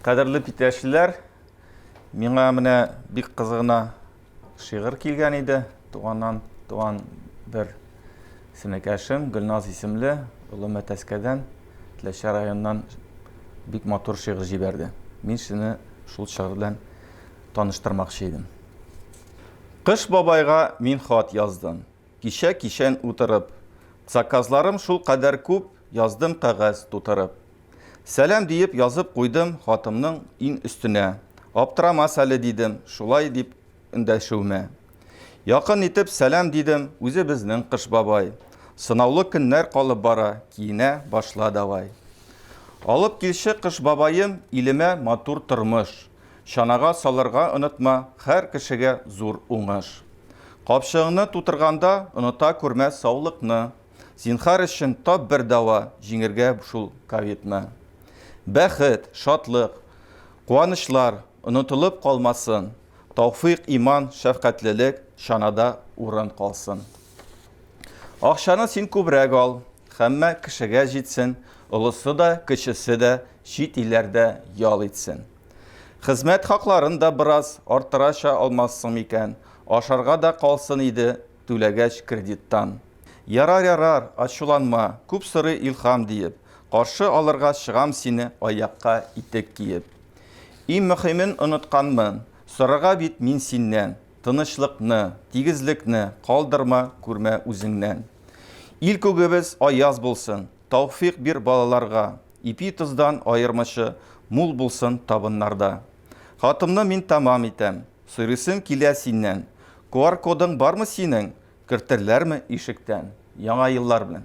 Кадерле питәшләр, миңа менә бик кызыгына шигырь килгән иде. Туганнан туган бер сенекәшем, Гөлназ исемле, Олы Мәтәскәдән, Теләчә районнан бик матур шигырь җибәрде. Мин сине шул шигырь белән таныштырмакчы идем. Кыш бабайга мин хат яздым. Кичә кичен утырып. Заказларым шул кадәр күп, Яздым кәгазь тутырып. Сәлам диеп язып куйдым Хатымның иң өстенә. Аптырамас әле, дидем, Шулай дип эндәшүемә. Якын итеп сәлам дидем, Үзе безнең Кыш бабай. Сынаулы көннәр калып бара, Киенә башла давай. Алып килче Кыш бабаем Илемә матур тормыш. Чанага салырга онытма, хәр кешегә зур уңыш. Капчыгыңны тутырганда оныта күрмә саулыкны. Зинхар өчен тап бер дава, җиңергә шул ковидны. Бәхет, шатлык, куанычлар онытылып калмасын, тауфыйк, иман, шәфкатьлелек чанада урын калсын. Акчаны син күбрәк ал, хәммә кешегә җитсен, олысы да, кечесе дә чит илләрдә ял итсен. Хезмәт хакларын да бераз арттырача алмассың микән, ашарга да калсын иде, түләгәч кредиттан. Ярар, ярар, ачуланма, күп сорый Илһам, диеп, каршы алырга чыгам сине аякка итек киеп. Иң мөхимен онытканмын, сорарга бит мин синнән. Тынычлыкны, тигезлекне калдырма күрмә үзеңнән. Ил күгебез аяз булсын, тауфыйк бир балаларга, ипи тоздан аермычы мул булсын табыннарда. Хатымны мин тәмам итәм, сорыйсым килә синнән, куар кодың бармы синең, кертерләрме ишектән? Яңа еллар белән!